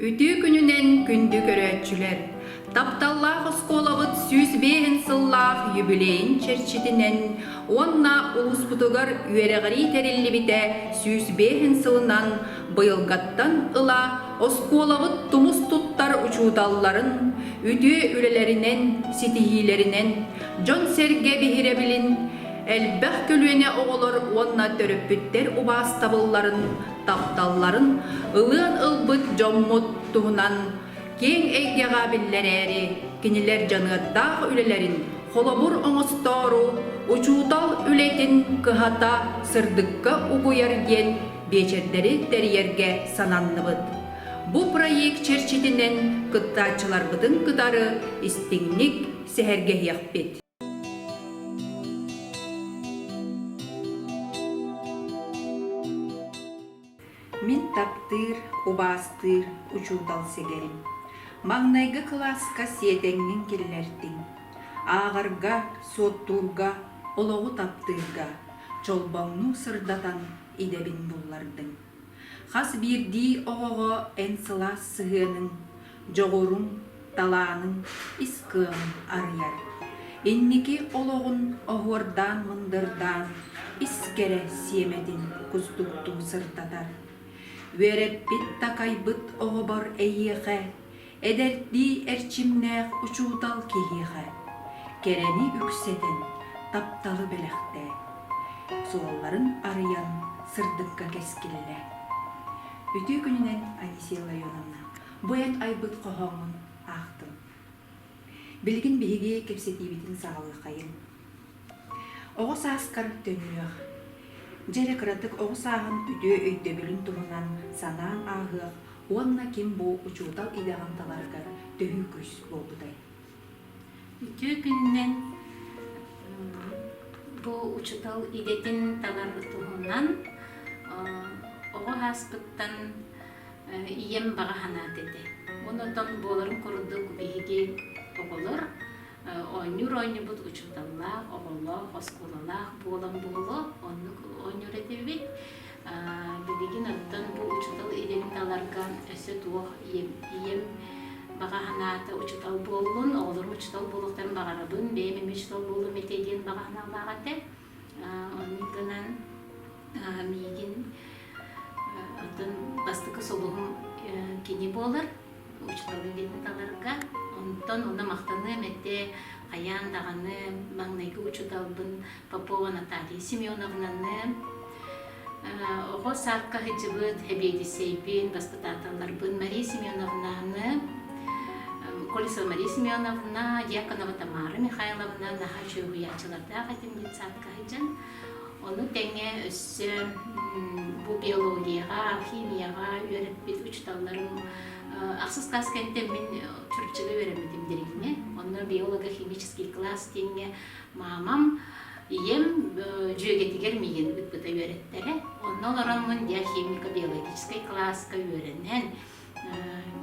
Үтүө күнүнэн күндү көрөөччүлэр! Тапталлаах оскуолабыт сүүс биэһин сыллаах юбилейын чэрчитинэн уонна улууспутугар үөрэҕирии тэриллибитэ сүүс биэһин сылынан быйылгаттан ыла оскуолабыт тумус туттар учууталларын үтүө үлэлэринэн, ситиһиилэринэн, дьон-сэргэ биһирэбилин элбэх көлүөнэ оҕолор уонна төрөппүттэр убаастабылларын, тапталларын ылыан ылбыт дьоммут туһунан киэҥ эйгэҕэ биллэрээри кинилэр дьаныардаах үлэлэрин холобур оҥостоору учуутал үлэтин кыһата сырдыкка угуйар диэн биэчэрдэри тэрийэргэ сананныбыт. Бу проект чэрчитинэн кыттааччыларбытын кытары истиҥник сэһэргэһиэхпит. Мин таптыыр, убаастыыр учуутал сэгэрим. Маҥнайгы кылааска сиэтэҥҥин киллэртиҥ. Ааҕарга, суоттуурга, олоҕу таптыырга, чолбоҥнуу сырдатан идэбин буллардыҥ. Хас биирдии оҕоҕо эн сылаас сыһыаныҥ, дьоҕуруҥ, талааныҥ ис кыаҕын арыйар. Инники олоҕун оһуордаан-мындырдаан ис кэрэ сиэмэтин кустуктуу сырдатар. Үөрэппит-такайбыт оҕобор эйиэхэ эдэрдии эрчимнээх учуутал киһиэхэ кэрэни үксэтэн тапталы бэлэхтээт, суолларын арыйан сырдыкка кэскиллэ. Үтүө күнүнэн Одиссея Ларионовна, бу эн айбыт хоһооҥҥун аахтым. Билигин биһиги кэпсэтиибитин саҕалыаххайыҥ. Оҕо сааскар төннүөх. Дьэ эрэ кыратык оҕо сааһын үтүө өйдөбүлүн туһунан санаан ааһыах уонна ким бу учуутал идэҕин таларыгар төһүү күүс буолбутай? Үтүө күнүнэн бу учуутал идэтин таларга туһунан оҕо ааспыттан ийэм баҕа санаат этэ. Онтон буоларын курдук биһиги оҕолор Оонньуур оонньуубут учууталлаах, оҕолоох, оскуолалаах буолан буолуо, оннук оонньуур этибит. Билигин оттон бу учуутал идэтин таларга өссө туох ийэм, ийэм баҕа санаата учуутал буоллун, оҕолорум учуутал буолуохтарын баҕарабын, бэйэм эмиэ учуутал буолуом этэ диэн баҕа санаалаах этэ. Оннугынан миигин атын бастакы сулуһум кини буолар учууталга кэлин таларга онтон уна махтаныам эте хайаан даҕаны маҥнайгы учууталбын Попова Наталья Семеновнаны оҕо саадка сылдьыбыт эбиэдиссэйбин баспытааталларбын Мария Семеновнаны Колесова Мария Семеновна, Яконова Тамара Михайловна наһаа чүөһуйааччылардаах этим бит саадка сылдьан Ону тэҥэ өссө бу биологияҕа, химияҕа үөрэппит учууталларым ахсыс каас кэнтэн мин чурччуга үөрэммитим диригме. Онно биолого-химический класс диэҥҥэ маамам Ийэм дьүөгэтигэр миигин ыппыта үөрэттэрэ. Онно олороммун диахимико-биологическай кылааска үөрэнэн,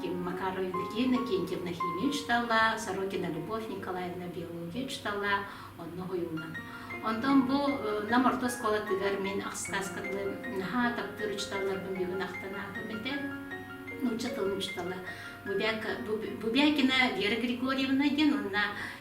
ким Макара Юрьевна, Кентьевна химия учиталла, Сорокина Любовь Николаевна биология учиталла, онно уһуйуллан. Онтон бу Нам орто оскуолатыгар мин ахстааскабын наһаа таптыыр учиталларбын бүгүн ахтан аатым этэ. Нуучча тылын учитала Бубяка, Бубякина Вера Григорьевна диэн уонна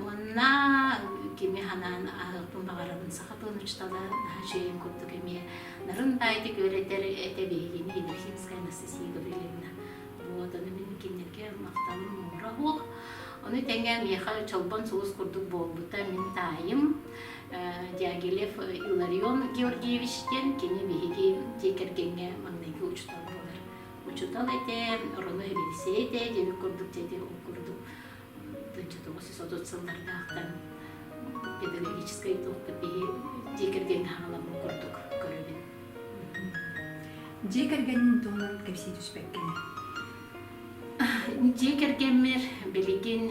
Уонна кими ханаан аһыахпын баҕарабын саха тылынычтала наһаа үчүгэйин курдук эмиэ нарын таайты күөрэтэр этэ биһигини Елисимская Анастасия Гаврилевна вот аны мин кинилэргэ махталым муҥура суох ону тэҥэ миэхэ Чолбон соҕус курдук буолбута мин таайым Дягилев Иларион Георгиевич диэн кини биһиги дьиэ кэргэҥҥэ маҥнайгы учуутал буолар учуутал этэ Роно Эвелисей этэ дьэбик курдук дьэти ол курдук тоҕус сүүс отут сыллардаахтан педагогическай толкуй киһи дьиэ кэргэни хаҕаламмын курдук көрөбүн. Дьиэ кэргэнин туһунан кэпсии түспэккинэ. Дьиэ кэргэммэр билигин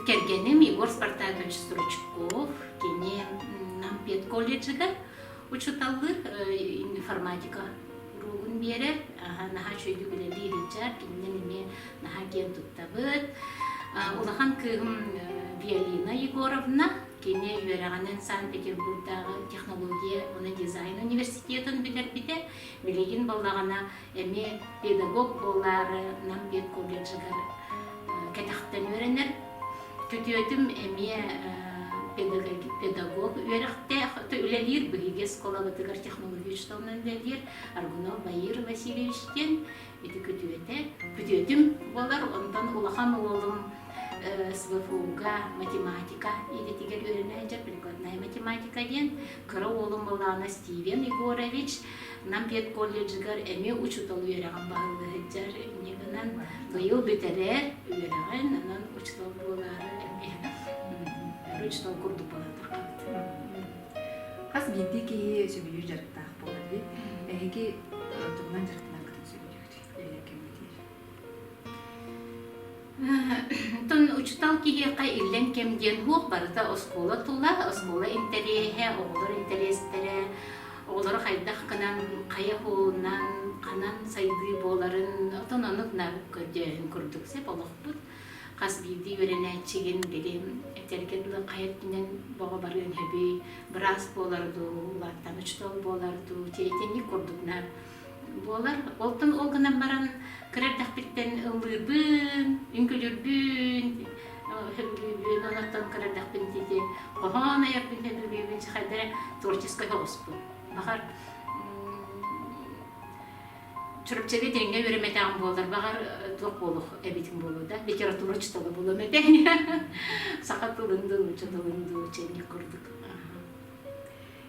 кэргэним Егор Спартакович Стручков кини Нам педколледжыгар учуталлыр информатика уруогун биэрэр наһаа үчүгэйдик үлэлиир ичар кининен эмиэ наһаа киэн туттабыт улахан кыыһым Виолина Егоровна кини үөрэҕинэн Санкт-Петербурдааҕы технология уна дизайн университетын бүтэрбитэ билигин балаҕана эмиэ педагог буолаары Нам педколледжыгар кэтэхтэн үөрэнэр. Күтүөтүм эмиэ педагог үөрэхтээх, үлэлиир биһиги оскуолабытыгар технологичнай үлэлиир Аргунов Баир Васильевич диэн ити күтүөтэ. Күтүөтүм буолар, онтон улахан уолум СВФУ-га математика идэтигэр үөрэнээччи, прикладная математика диэн. Кыра уолум Балаана Стивен Егорович Нам педколледжыгар эмиэ учуутал үөрэҕин баһылла сылдьар иннигинэн быйыл бүтэрэр үөрэҕин онон учуутал буолаары эмиэ учуутал курдук буолан турбут. Хас биирдии киһи сөбүлүүр дьарыктаах буолар эһиги тугунан дьарыктанаргытын сөбүлүүрүй? Тон учутал киһиэхэ иллэҥ кэм диэн уһуох барыта оскуола тула, оскуола интэриэһэ, оҕолор интэриэстэрэ, оҕолору хайдах гынан, хайа куолунан, ханан сайдыы буоларын, отон ону гынан көрдөөһүн курдук сеп олохпут. Хас биирдии үөрэнээччигин били этэргэ дылы хай өттүнэн бөҕө барыан сөбүй, быраас буолар дуу, улааттан учутал буолар дуу, тиэтинник курдук на Буолар. Оттон ол гынан баран кыра эрдэхпиттэн ыллыырбын, үҥкүлүүрбүн, онтон кыра эрдэхпин диэки хоһоон айарбын сөбүлүүбүн сахайдары творческай оҕуспун. Баҕар Чурапчыга тэҥҥэ үөрэмэтэҕим буоллар, баҕар туох буолуох эбитим буолуо да, литература учуутала буолуом этэ. Саха тылын дуу, ча тылын дуу, чэ курдук.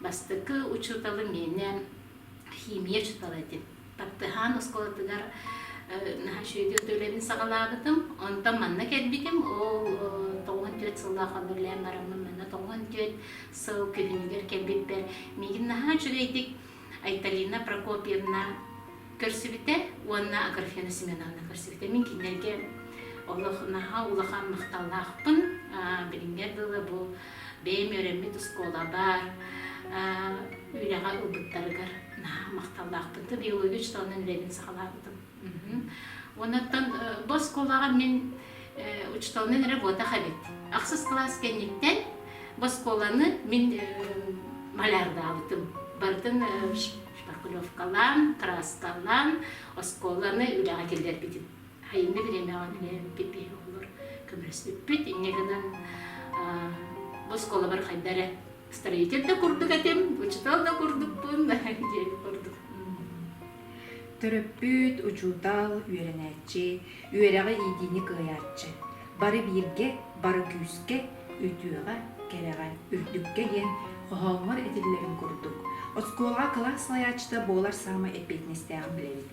Бастакы учууталым миэнэ химия учуутала этим. Таптыһаан оскуолатыгар наһаа үчүгэй өтө үлэбин саҕалаабытым. Онтон манна кэлбитим. Ол тоҕуон түөрт сыллаах абырлаан бараммын манна тоҕуон түөрт сыл күһүнүгэр кэлбиппэр миигин наһаа үчүгэйдик Айталина Прокопьевна көрсүбүтэ уонна Аграфена Семеновна көрсүбүтэ. Мин кинилэргэ олох наһаа улахан махталлаахпын. Билиҥҥэ дылы бу бэйэм үөрэммит оскуола баар үлэҕэ ылбыттарыгар наһаа махталлаахпын да биология учеталарын үлэбин саҕалаабытым уонаттан бу оскуолаҕа мин учеталынан работах эбит ахсыс кылаас кэнниттэн бу оскуоланы мин малярдаабытым барытын шпаклевкалаан краскалаан оскуоланы үлэҕэ киллэрбитим Айымньы бириэмэҕин үлэһиммиккин киһи оҕолор көмөлөспүппүт. Инньэ гынан босхолобор хайда эрэ строитель да курдук этим, учутал да курдукпун диэн курдук. Төрөппүт, учуутал, үөрэнээччи, үөрэҕи иитиини кыайааччы. Бары бииргэ, бары күүскэ, үтүөҕэ, кэрэҕэ, үрдүккэ диэн хоһооҥҥор этиллэрин курдук, оскуолаҕа кылаас салайааччыта буолар саамай эппиэтинэстээҕин билэбит.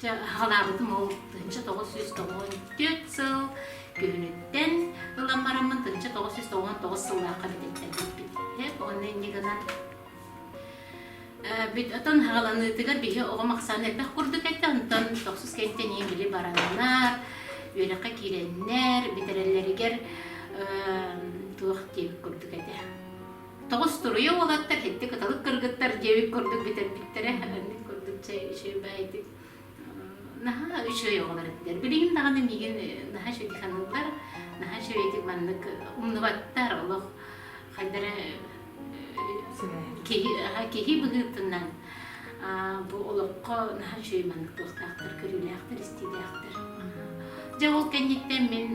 Чэ, халаабытым ол тыһыынча тоҕус сүүс тоҕуон түөрт сыл күһүнүттэн ылан бараммын тыһыынча тоҕус сүүс тоҕуон тоҕус сыллаахха бититтэрбиппит. Уонна иннигынан оттон хаҕаланыытыгар биһи оҕом ахсаана элбэх курдук этэ, онтон тохсус кэнтэнии били бараннар, үөрэххэ киирэннэр, бүтэрэллэригэр туох диир курдук этэ. Тоҕус туруйа уолаттар итти кыталык кыргыттар диэбит курдук бүтэрбиттэрэ ыннык курдук чэй үчүгэй баайдык наһаа үчүгэй оҕолор этилэр билигин даҕаны миигин наһаа үчүгэй саныыллар наһаа үчүгэй ити маннык умнубаттар олох хайдара киһи киһи быһыытынан бу олоххо наһаа үчүгэй маннык туохтаахтар көрүүлээхтэр истиилээхтэр дьэ ол кэнниттэн мин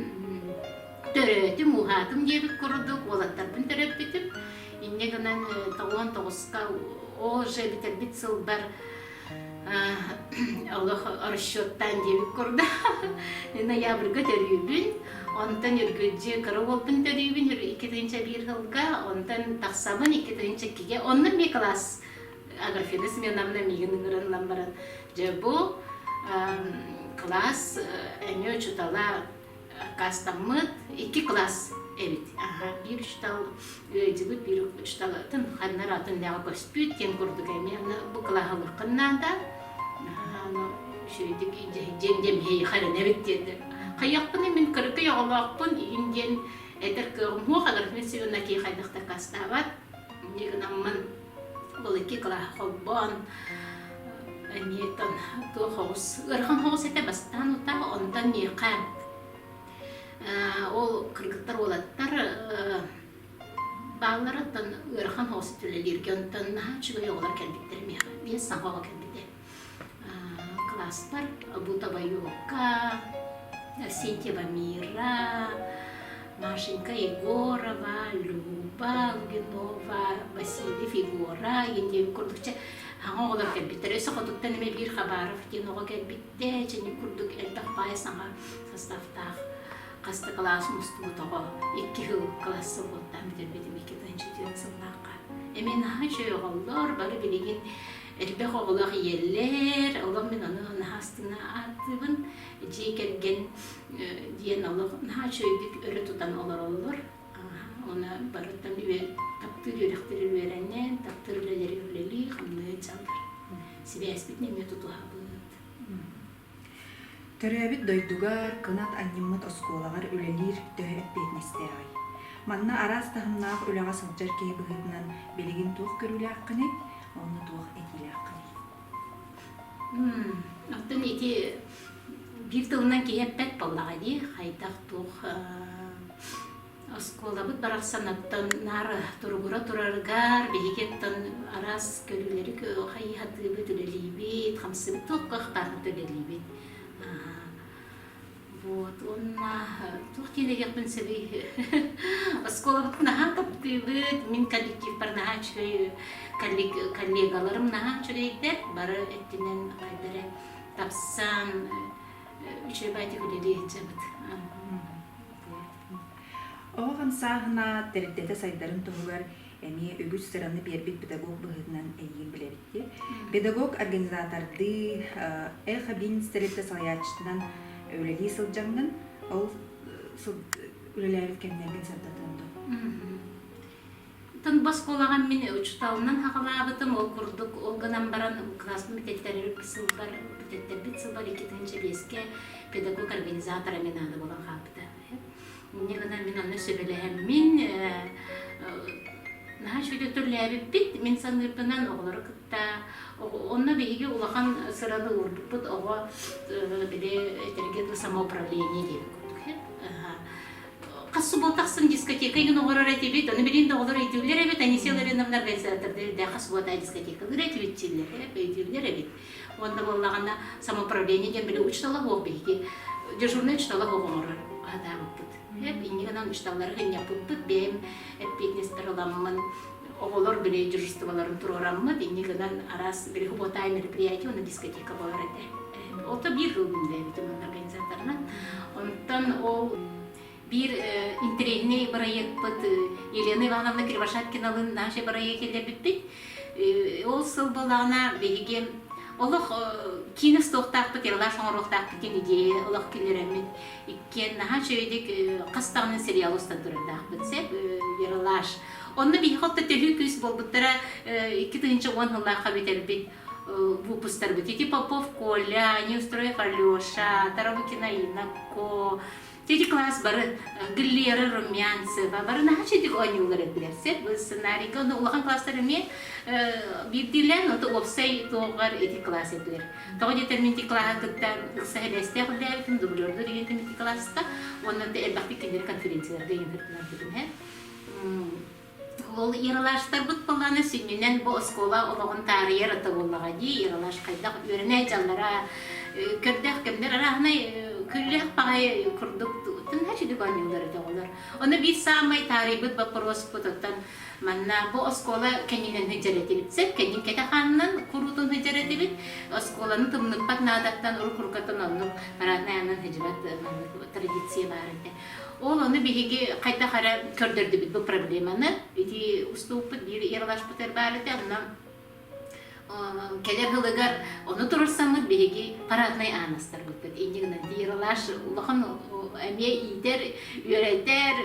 төрөөтүм ууһаатым диэбит курдук уолаттарбын төрөппүтүм инньэ гынан тоҕуон тоҕуска ол же бүтэрбит сылбар олох расчеттаан диэбит курдук ноябрьга төрүүбүн онтон үргүлдьү кыра уолбун төрүүбүн икки тыынча биир сылга онтон тахсабын икки тыынча иккигэ онно эмиэ кылаас агрофина сменамна миигин ыҥырыллан баран дьэ бу кылаас эмиэ учутала аккаастаммыт икки класс эбит биир учуутал ыайдьыбыт биир учууталытын ханнар атыннааҕы көспүт диэн курдук эмиэ бу кылааһалыаххын наада үчүгэйдик дьэм дьэмиһэйиэх эрэнэбит диэтэ хайахпын мин кырыкый оҕолоохпун иһин диэн этэр кыаҕым суох аларфин сивна киһи хайдах дакаастаабат дигнаммын Бұл екі класс холбоон эниетон туох хоҕус ыарахан хоҕус этэ бастаан ута онтон миэхэ ол кыргыттар уолаттар баалларыттан ыарахан хоҕус төлөлүүргэ онтон үчүгэй оҕолор кэлбиттэр миэхэ биир саҥа оҕо кэлбитэ Кылааспар Бутабайокка, Сетева Мира, Машенька Егорова, Люба, Лугинова, Васильев Егора, инде курдукча аңа олар кэлбиттер өсө хотуттан эме биир хабаров диэн оҕо кэлбитте чэни курдук элбэх баай саҥа составтаах хаста кылаас мустубут оҕо икки хыл класса буолтаан бүтэрбитим икки тыһынчы сыллаахха эми наһаа чөйөҕөллөр бары билигин Элбэх оҕолоох ийэлэр, олох мин ону наһаа астына ааттыыбын. Дьиэ кэргэн диэн олох наһаа үчүгэйдик өрө тутан олороллор. Оны барыттан таптыыр үөрэхтэрин үөрэнэн, таптыыр үлэлэри үлэлии, хамнайа дьаллар. Сибээспит эмиэ тутуһабыт. Төрөөбүт дойдугар кынат анньыммыт оскуолаҕар үлэлиир төһө эппиэтинэстээҕий? Манна араас таһымнаах үлэҕэ сылдьар киһи быһыытынан билигин туох көрүүлээххиний? Уонна туох этиилээххиний? Оттон ити биир тылынан киһи эппэт буоллаҕа дии, хайдах туох Оскуолабыт барахсаныттан наар туругура тураргар биһиги оттон араас көрүүлэри хайыһатыыбыт, үлэлиибит, хамсыбыт туох кыахтаахпыт үлэлиибит. Вот уонна туох диэн дэһиэхпин сөбүй оскуолабыт наһаа таптыыбыт мин коллективпар наһаа үчүгэй коллегаларым наһаа үчүгэйдэр бары өттүнэн хайдары тапсан э, учебатик үлэлиэччэбит Оҕо хамсааһына тэрилтэтэ сайдарын туһугар эмиэ үгүс сыраны биэрбит педагог быһыытынан эйиин билэбиттиэ. Педагог организатордыы Эхо Бизнес тэрилтэ салайааччытынан үлэлии сылдьаҥҥын, ол үлэлээбит кэмнэргин сырдатыаҥ дуо? Тылба оскуолаҕа мин учууталынан хаҕалаабытым, ол курдук ол гынан баран класспын бүтэттэрип сылбар бүтэттербит сылбар икки тыһыынча чэбиэскэ педагог организатора мен аада буолан хаалбыта. Инньэ гынан мин аны сөбүлэһэммин наһаа үчүгэй түрлээбиппит. Мин саныырбынан оҕолору кытта онно биһиги улахан сыраны уурбуппут оҕо били этэргэ дуу самоуправление диэн курдук. Хас субуот тахсан дискотека иҥин оҥорор этибит, ону билин да оҕолор өйдүүллэр эбит, Анисия Ларионовна организатордара элбэх хас субуота дискотекалыыр этибит, чиллэрэ, өйдүүллэр эбит. Уонна буоллаҕына самоуправление диэн били учиталаһыах биһиги дежурнай учиталаһыах оҥорор аһатаабыппыт. Иннигынан учиталлары хынньаппыппыт, бэйэм эппиэтинэспэр ыламмын оҕолор билиэдьиржестволарын туруораммыт, инньэ гынан араас переходное мероприятие, уонна дискотека буолар этэ. Ото биир жыл бүллээбитим онно организаторынан. Онтон ол биир интирээһинэй бырайыакпыт Елена Ивановна Кривошапкиналыын наши бырайыак киллэрбиппит. Ол сыл буолаҕына биһиги олох киинэ стохтаахпыт, ерлаш оҥоруохтаахпыт диэн идея олох киллэрэммит. Иккиэн наһаа үчүгэйдик хас даҕаны сериал устан турардаахпыт. Сеп, ерлаш Онно биһи халта төһүү күүс буолбуттара икки тыһынча уон сыллаахха бүтэрбит выпустарбыт. Ити Попов Коля, Неустрой Халеша, Тарабыкина Инако, Тити класс бары Глера Румянцева бары наһаа читик оонньуулары билэрсэр бу сценарийга онно улахан класстар эмиэ биирдиилээн ота уопсай туоҕар эти класс этилэр тоҕо диэтэрмин ити класса кытта ыкса сибээстээх үллээбитим дублердуу деген ити класста онно элбэхтик кинилэр конференцияларга иҥэрбитинэ Ол Ералаштарбыт боллана сүннүнэн бу оскуола олоҕун таарыйар ото буоллаҕа дии. Ералаш хайдах үөрэнэ дьаллара көрдөөх кэмдер араһынай күллэх паҕай курдук тутун хачыдык оонньуулар өтөҕүлөр. Ону биир саамай таарыйбыт боппуруоспут оттон манна бу оскуола кэннинэн сыдьар этибит сөп, кэннин кэтэ хаанынан куруутун сыдьар этибит. Оскуоланы тымныппат наадаттан урук-урукаттан оннук параднай анан сыдьыбат традиция баар этэ. Ол ону биһиги хайдах эрэ көрдөрдүбүт бу проблеманы. Ити уступпут биир ирлашпытыр баарыта анна кэлэр жылыгар ону турурсаммыт биһиги параднай аанастарбыттыт иннигынан тиерлаш улахан эмиэ иитэр үөрэтэр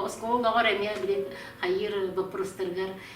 оскуола олоҕор эмиэ билет хайыр боппурустарыгар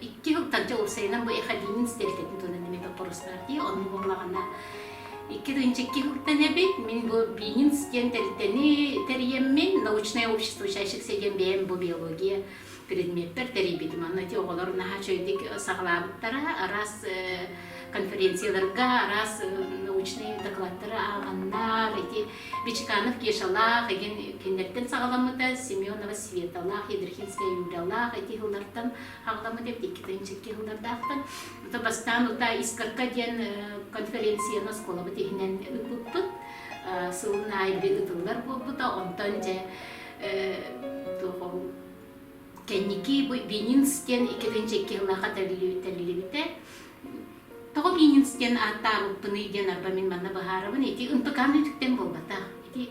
Икки сылтан Дьоурсайынан бу Эхадинин стелькэтин туонан эмит оппорустаартия, онну буолаҕына Икки тыынча икки сылтан эбит, мин бу Бининс диэн тэрилтэни тэрийэммин, научное общество учащихся диэн бэйэм бу биология предмеппэр тэрийбитим. Онно ити оҕолор наһаа чөйдүк саҕалаабыттара, араас конференцияларга, араас научнай докладтары ааҕаннар, ити Бичиканов Кешалаах игин кинилэртэн саҕаламмыта, Семенова Светалаах, Ядрихинская Юралаах эти хыллартан хаҕаламмыта, иккитин чикки хыллардаахтан. Ото бастаан ута Искорка диэн конференцияны оскуолабыт иһинэн ыппыппыт. Сылын айыргы ытыллар буолбута, онтон же кэнники Бенинс диэн иккитин чикки хыллаах аталлибите. Тоҕо Гиниус диэн ааттаабыппыный диэн арба мин манна быһаарабын. Ити ынтыкаан үтүктэн буолбатах. Ити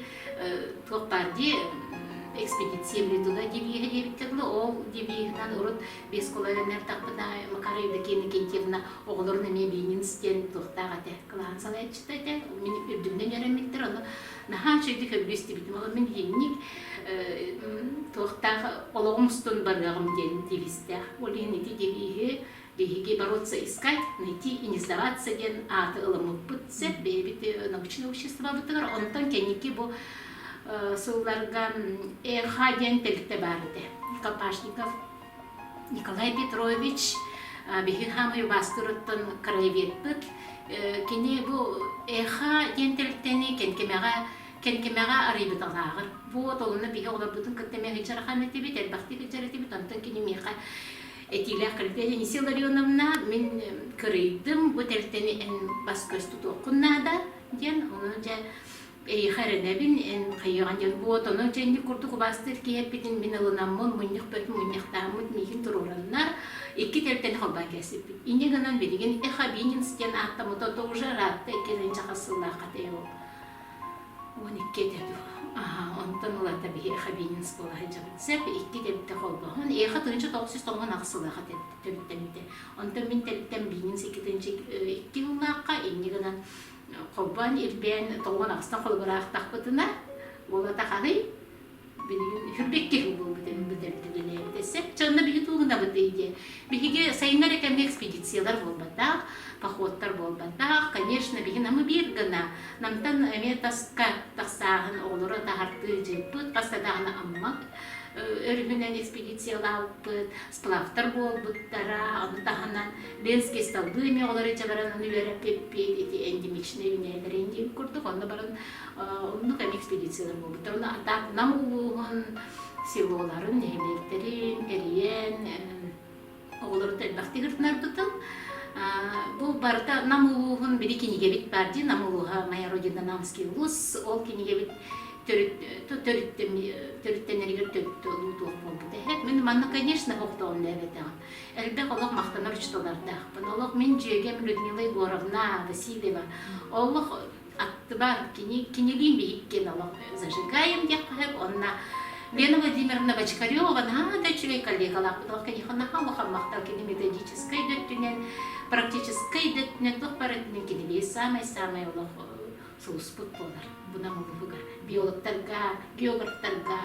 туох баар дии экспедиция Медуга девииһа диэбиттэр да ол девииһынан урут бескола эрэннэртахпына Макара Евдокия Никитьевна оҕолорун эмиэ Бининс диэн туохтаах этэ кылаан салайаччыта этэ мин үрдүмнэн өрөммүттэр ону наһаа үчүгэйдик көбүлүү истибитим ол мин диэнник туохтаах олоҕум устун барыаҕым диэн девизтээх ол иһин ити девииһи Биһиги бороться, искать, найти и не сдаваться диэн ааты ылыммыппыт сөп. Бэйэбит научнай обществобытыгар, онтон кэнники бу сылларга ЭХ диэн тэрилтэ баар этэ. Копашников Николай Петрович биһин хаамай убаастырыттан краеведпыт. Кини бу ЭХ диэн тэрилтэни кэнкемэҕэ кэнкемэҕэ арыйбыталааҕар. Вот, онно биһи олорбутун кытта мэ хыдьархан этибит, элбэхтик хыдьар этибит, онтон кини миэхэ Этиилээх Крепеженисия Илларионовна, мин кырыйдым, бу тэрилтэни эн бас-көс тутуоххун наада, диэн, ону дьэ эйиэхэ эрэнэбин, эн хайыаҕа диэн буот, ону дьэнник курдук убаастыыр киһи эппитин мин ылынаммын, мунньах бөтүн мунньахтааммыт миигин туруораннар, икки тэрилтэни холбоон кэлсиппит. Инньэ гынан билигин Эхобининс диэн ааттаммыта тоже радтай кэлин дьахар сыллаахха тэйэҕин. он икки этэ дуу онтон ылата биһиэхэ биинин скуола сылдьабыт сэп икки тэбитэ холбоһон эйиэхэ тыһынча тоҕус тоҥон ахсылаах этэ төрүттэммитэ онтон мин тэриттэн биинин секитинчи икки ыллаахха инньэ гынан холбоон ирбээн тоҥон ахсан холбураахтахпытына уолата харый билигин хырбык киһи буолбутын бүтэбитин илээбитэ сэпчэ онно биһи туугунабыт ити биһиги сайыҥҥа эрэ кэмҥэ экспедициялар буолбатах походтар буолбатах конечно биһи намы биир гына намтан эмиэ таска тахсааһын оҕолору таһартыы дьыыппыт хас да даана аммак өрүһүнэн экспедициялааппыт сплавтар буолбуттара аны таһынан ленские столбы эмиэ оҕолору дьабаран аны үөрэппиппит ити эндемичнэй үүнээлэри индиин курдук онно баран Оннук экспедициялар буолбуттар. Так Нам улууһун селоларын, нэһилиэктэрин эрийэн оҕолорут элбэхтик ырытынарбытын Бу барыта Нам улууһун били кинигебит бар ди Нам улууһа моя родина Намский улус ол кинигебит төрүттенеригэр төрүт луутуох буолбут эһэт мен манна конечно хохтоон дээбэтэҕим элбэх олох махтанар учталардаахпын олох мин дьүөгем Людмила Егоровна Васильева олох Аттыбар кинилиин биһиккин олох зажигаем диэххэ онна Лена Владимировна Бочкарева наһаа да үчүгэй коллегалаахпыт олох киниэхэ наһаа улахан махтал кини методическай да өттүнэн практическай да өттүнэн туох бар өттүнэн кини биир саамай-саамай олох сулуспут буолар бунам улууһугар биологтарга, географтарга,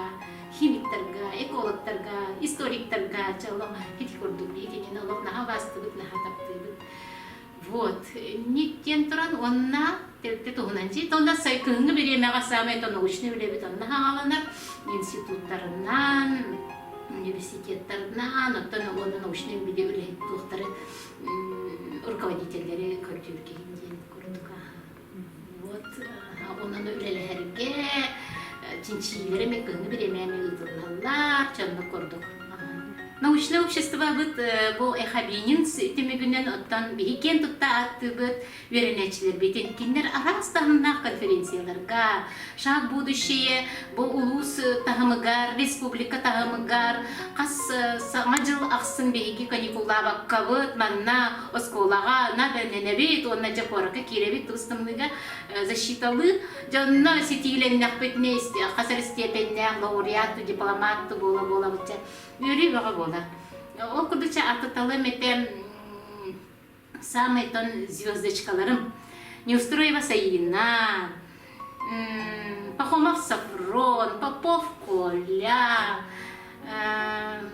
химиктарга, экологтарга, историктарга дьолома ити курдук биһик итини олох наһаа убаастыбыт наһаа таптыыбыт Вот, ник диэн туран уонна тэрдэ туһунан дьиит онно сайкыһыҥҥы бириэмэҕэ саамай то научнай үлэбит онно хааланар институттарынан университеттарынан оттон уонна научнай билии үлэһит туохтары руководителлэри көрдүүр киһин диэн курдук Вот онно үлэлэһэргэ чинчийлэрэ меканы бириэмэни ыытыллаллар, чонно курдук. Научное обществобыт бу эхабинин түмүгүнэн оттон биһиккен тутта аттыбыт үөрэнээччилэрбитин кинилэр араас таһымнаах конференцияларга, Шаг будущее бу улуус таһымыгар, республика таһымыгар хас саҥа дьыл ахсын биһиги каникуллаабаккабыт, манна оскуолаҕа надэннэбит уонна дьэ куоракка киирэбит тус-тымныыга защиталыыр. Дьонно ситиилэннэхпит мест, хас эрэ степеннээх лауреат, дипломат буола-буола бычча. Үөрүү бөҕө буолар. Ол курдук аты талым этэ Саамайтан звездочкаларым Неустроева Саина, Пахомов Сафрон, Попов Коля,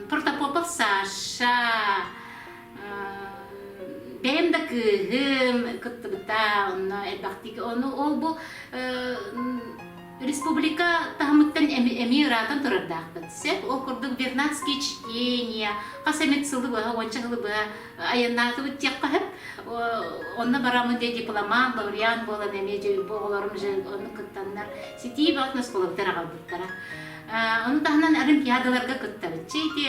Протопопов Саша, бэйэм да кыыһым кыттыбыта, онно элбэхтик, ону ол бу Республика таһымыттан эмиэ ыраатан турардаахпыт. Сөп, ол курдук Вернадский чтение, хас эмит сылы быһа, уонча сылы быһа айаннаатыбыт диэххэ сөп. Онно бараммын дьэ дипломант, лауреат буолан эмиэ дьэ оҕолорум же ону кыттаннар ситии баҕат оскуолабыттан аҕалбыттара. Ону таһынан олимпиадаларга кыттабыт. Чэ ити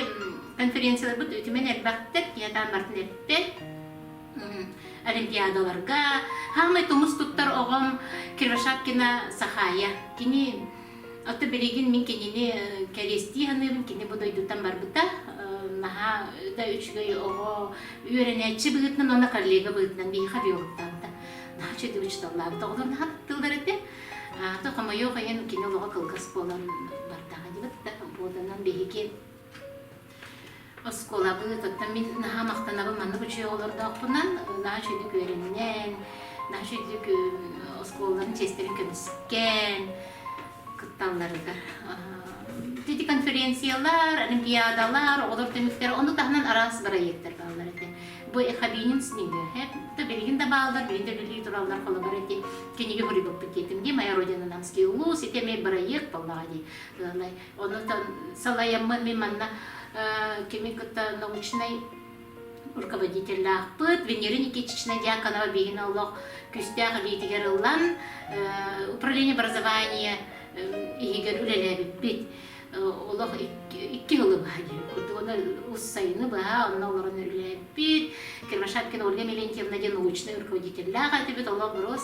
конференцияларбыт үтүмэн элбэхтэр, киһи атаан бартын эппэт. олимпиадаларга хаамай тумус туттар оҕом Кирашапкина Сахая кини Ото билигин мин кинини кэриэстии саныыбын кини бу дойдуттан барбыта наһаа да үчүгэй оҕо үөрэнээччи быһыытынан уонна коллега быһыытынан биһиэхэ биоруктаабыта наһаа үчүгэй учууталлаабыта оҕолор наһаа туттуллар этэ то хомойуох иһин кини олоҕо кылгас буолан бардаҕа дии буоланан биһиги Оскуолабыт, оттон мин наһаа махтанабын маннык үчүгэй оҕолордоохпунан. Наһаа үчүгүйдүк үөрэннэн, наһаа үчүгүйдүк оскуолаларын чиэстэрин көмүскэн кытталларыгар. Ити конференциялар, олимпиадалар, оҕолор түмүктэр, ону таһынан араас бырайыактар бааллар этэ. Бу эхабиним с ними. Это билигин да бааллар, билигин да үлэлии тураллар холобур эти киниге хуригоппут диэтим ди моя родина намский улус ити эмей бырайыак боллаҕа дии Онутан салайаммын мин манна кимин кытта научнай руководителлаахпыт Венера Никитична Дьяконова биһигини олох күстээх илиитигэр ылан управление образования иһигэр үлэлээбиппит олох икки сылы баха диэн курдук оны уссайыны баха онно олорон үлэлээбиппит Кирмашапкина Ольга Милентьевна диэн научнай руководителлаах этибит олох бороос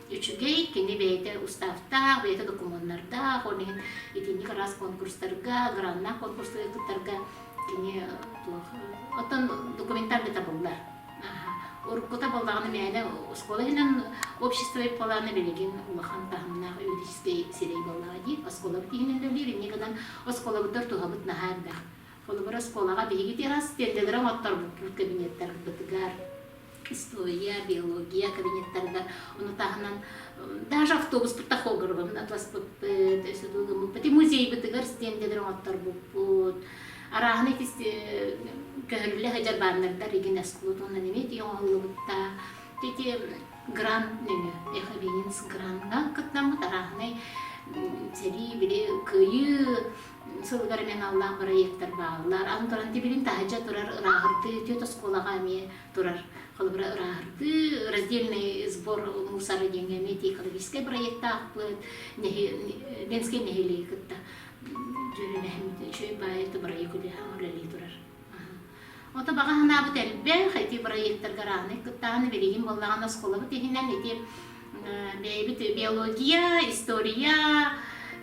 үчүгэй, кини бэйэтэ уставтаах, бэйэтэ докумуоннардаах, ол иһин итинник араас конкурстарга, граннаах конкурстарга кыттарга кини э, туох оттон документальный табыллар уруккута боллаганы мээнэ оскуола иһинэн общество ипполааны билигин улахан таһымнаах юридический сирэй боллага дии оскуолабыт иһинэн үлэлиир инни гынан оскуолабыттар туһабыт наһаа элбэх холобур оскуолаға биһиги раз тендеры оҥотторбуппут кабинеттарбытыгар история, биология кабинеттарыгар ону таһынан даже автобуспутта хоборовын атласпыппыт өсө дуугаммыппыт и музейбытыгар стендэлэр оҥотторбуппут арааһына ити көһөрүллэ сылдьар баннердар игин аскулутунан эмит оҥоһуллубутта ити грант нөҥө эховенец гранга кыттаммыт арааһынай сэрии били кыйы сылыгар аналлаах бырайыактар бааллар. Аны туран тибилин таһыча турар ырааһыртыы түөт оскуолаҕа эмиэ турар. Холобура ырааһыртыы, раздельный сбор мусора диэҥҥэ эмиэ экологическай бырайыактаахпыт. Ленскэй нэһилиэги кытта дьүөрэлэһэн үчүгэй баай это бырайыак үлэлии турар. Ото баҕа санаабыт элбэх, ити проектар гарааннай кыттаһаны билигин буоллаҕына осколобут иһинэн ити бэйэбит биология, история,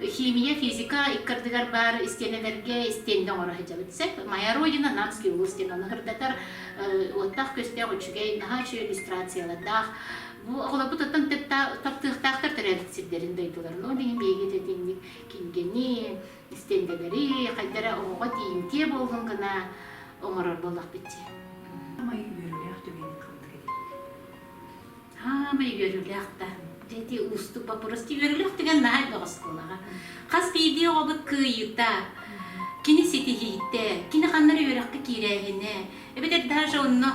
химия, физика иккардыгар баар истиэнэлэргэ истиэннэ оҥоро сылдьабыт. Сөп, моя родина Намский улус диэн ону хырдатар уоттаах көстөөх үчүгэй наһаа үчүгэй иллюстрациялардаах. Бу оҕолорбут оттон таптыахтаахтар төрөөбүт сирдэрин дойдуларын. Ол иһин биһиги итинник кинигэни, истиэндэлэри, хайдара оҕоҕо тиийимтиэ буоллун гына оҥорор буоллахпыт дии. Саамай үөрүүлээх түгэҥҥит ханнык эдэр? Саамай үөрүүлээх да. Дьэти уустук вопрос. Үөрүүлэх түгэн наһаа элбэх оскуолаҕа. Хас биирдии оҕобут кыайыыта, кини ситиһиитэ, кини ханна үөрэххэ киирээһинэ, эбэтэр даже онно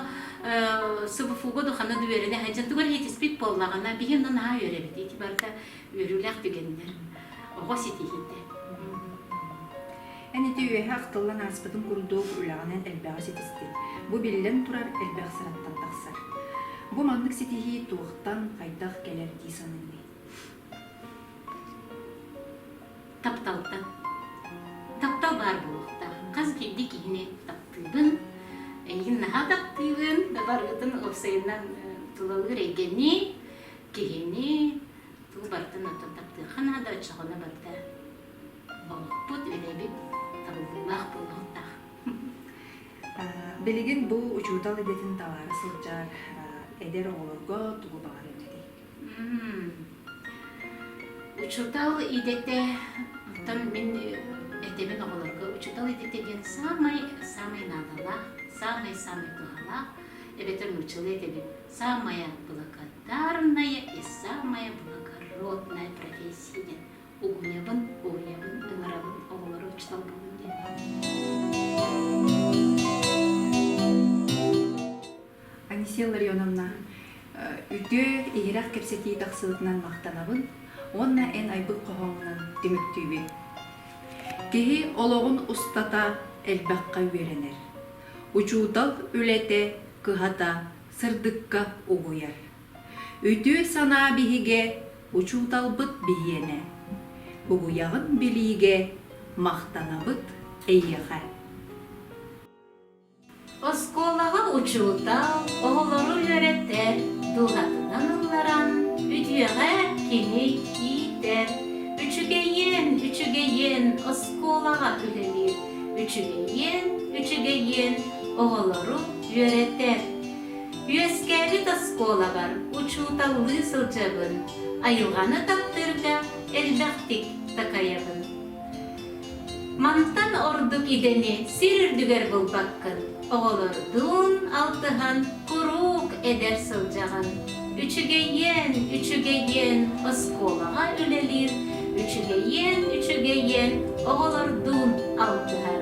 СВФУ-га ханна да үөрэнэ сылдьан тугу эрэ ситиспит буоллаҕына, биһи онно наһаа үөрэбит. Ити барыта Үөрүүлээх түгэннэр, оҕо ситиһиитэ. Эн ити үөһэ ахтыллан ааспытын курдук үлэҕинэн элбэҕи ситистин. Бу биллэн турар элбэх сыраттан тахсар. Бу маннык ситиһии туохтан, хайдах кэлэр дии саныыгын? Тапталтан. Таптал баар буолуохтаах. Хас биирдии киһини таптыыбын, эйигин наһаа таптыыбын, да барыбытын уопсайынан тулалыыр эйгэни Киһини тыл баттан оттон таптыахха наада, оччоҕуна барыта олохпут, үөрэбит табыллыылаах буолуохтаах. Билигин бу учуутал идэтин талаары сылдьар эдэр оҕолорго тугу баҕарыҥ этэй? Учуутал идэтэ оттон мин этэбин оҕолорго учуутал идэтэ диэн саамай саамай наадалаах, саамай-саамай туһалаах эбэтэр нууччалыы этэбин Самая благодарная и самая благородная профессия углевын, углевын, ынарабын оҕолору учууталбын Анисия Ларионовна, үтүө иһирэх кэпсэтии тахсыбытынан махтанабын уонна эн айбыт хоһооҥунан түмүктүүбүн. Киһи олоҕун устата элбэххэ үөрэнэр. учуутал үлэтэ кыһата сырдыкка угуйар. Үтүө санаа биһигэ, учууталбыт биһиэнэ. Угуйаҕын билиигэ махтанабыт эйиэхэ. Оскуолаҕа учуутал оҕолору үөрэтэр дууһатынан ылларан, үтүөҕэ кини иитэр, үчүгэйиэн, үчүгэйиэн оскуолаҕа үлэлиир үчүгэйиэн, үчүгэйиэн оҕолору үөрэтэр. Үөскээбит оскуолабар учууталлыы сылдьабын, айылҕаны таптыырга элбэхтик такайабын. Мантан ордук идэни сир үрдүгэр булбаккын. Оҕолордуун алтыһан куруук эдэр сылдьаҕын. Үчүгэйиэн, үчүгэйиэн оскуолаҕа үлэлиир, үчүгэйиэн, үчүгэйиэн оҕолордуун алтыһар.